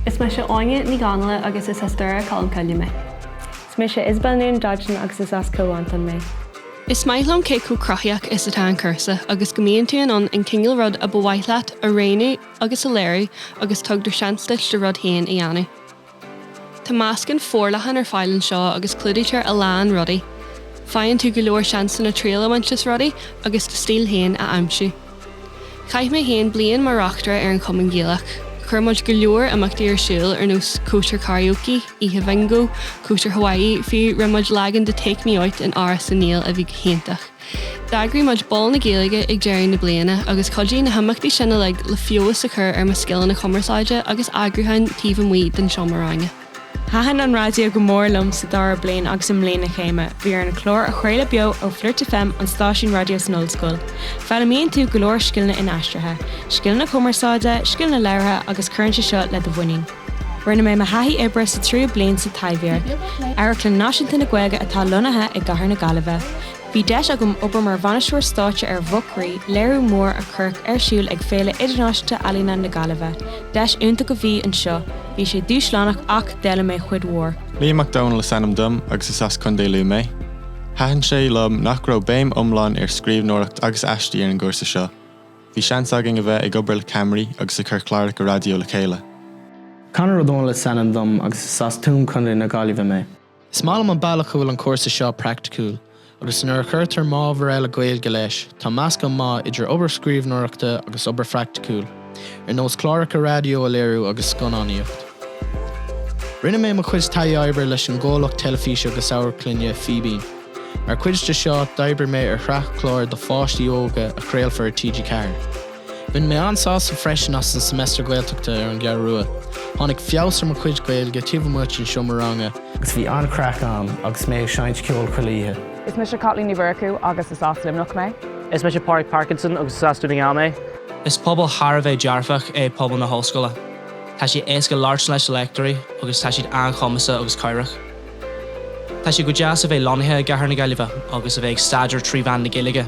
Is mise Áine Ní Gháinille agus is as Doire Colm Cille mé. Is mise Isabel Noone Dodgson agus is as Cill Mhantáin mé. Is maith liom cé chomh cruthaíoch is atá an cúrsa agus go mbíonn tú in ann an cineál rud ab mhaith leat a roghnú agus a léiriú agus tugtar seans duit do rud féin a dhéanamh. Tá meascán forleathan ar fáil anseo agus clúdaítear a lán rudaí. Faigheann tú go leor seansanna triail a bhaint as rudaí agus do stíl féin a aimsiú. Chaith mé féin bliain mar reachtaire ar an Chumann Gaelach. Chuir muid go leor imeachtaí ar siúl ar nós cóisir karaoke, oíche bhingo, cóisir Hawaii, fiú rinne muid leagan de Take Me Out in Áras Uí Néill a bhí go hiontach. D'eagraigh muid Bál na Gaeilge ag deireadh na bliana agus chuidigh na himeachtaí sin uilig le feabhas a chur ar mo scileanna cumarsáide agus eagrúcháin taobh amuigh den seomra ranga. Thaitin an raidió go mór liom sa dara bliain agus i mbliain na céime, bhí orainn cláir a chraoladh beo ó Flirt FM, an stáisiún raidió san ollscoil. Foghlaimíonn tú go leor scileanna inaistrithe, scileanna cumarsáide, scileanna labhartha agus cuireann sé seo le do mhuinín. Rinne mé mo thaithí oibre sa tríú bliain sa Taibhdhearc, amharclann náisiúnta na Gaeilge atá lonnaithe i gcathair na Gaillimhe. Bhí deis agam obair mar bhainisteoir stáitse ar Mhuc Rí, léiriú mór a cuireadh ar siúl ag Féile Idirnáisiúnta Ealaíne na Gaillimhe. Deis iontach a bhí anseo, bhí sé dúshlánach ach d'fhoghlaim mé cuid mhór. Liam Mac Dónaill is ainm dom agus is as Contae Lú mé. Thaitin sé liom nach raibh béim iomlán ar scríbhneoireacht agus aistí ar an gcúrsa seo. Bhí seans againn a bheith ag obair le ceamaraí agus ag cur cláracha raidió le chéile. Conor Ó Dónaill is ainm dom agus is as Tuaim Co. na Gaillimhe mé. Is maith liom an bealach a bhfuil an cúrsa seo praiticiúil agus nuair a chuirtear m'ábhar eile Gaeilge leis tá meascán maith idir obair scríbhneoireachta agus obair phraiticiúil ar nós cláracha raidió a léiriú agus scannánaíocht. Rinne mé mo chuid taithí oibre leis an gcomhlacht teilifíse agus amharclainne Fíbín. Mar chuid de seo, d'oibrigh mé ar shraith clár do pháistí óga a chraolfar ar TG4. Bhain mé an-sásamh freisin as an Semester Gaeltachta ar an gCeathrú Rua. Tháinig feabhas ar mo chuid Gaeilge taobh amuigh den seomra ranga. Agus bhí an-chraic ann agus mé ag seinnt ceoil chuile oíche. Is mise Caitlín Ní Mhurchú agus is as Luimneach mé. Is mise Pádraig Parkinson agus is as Dún na nGall mé. Is pobal thar a bheith dearfach é pobal na hOllscoile. Tá sé éasca labhairt leis na léachtóirí agus tá siad an-chumasach agus cabhrach. Tá sé go deas a bheith lonnaithe i gcathair na Gaillimhe agus a bheith ag staidéar trí mheán na Gaeilge.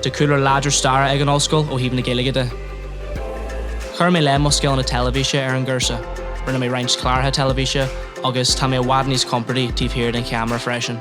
Tá cúlra láidir staire ag an ollscoil ó thaobh na Gaeilge de. Chuir mé le mo scileanna teilifíse ar an gcúrsa, rinne mé roinnt cláracha teilifíse agus tá mé i bhfad níos compordaí taobh thiar den cheamara freisin.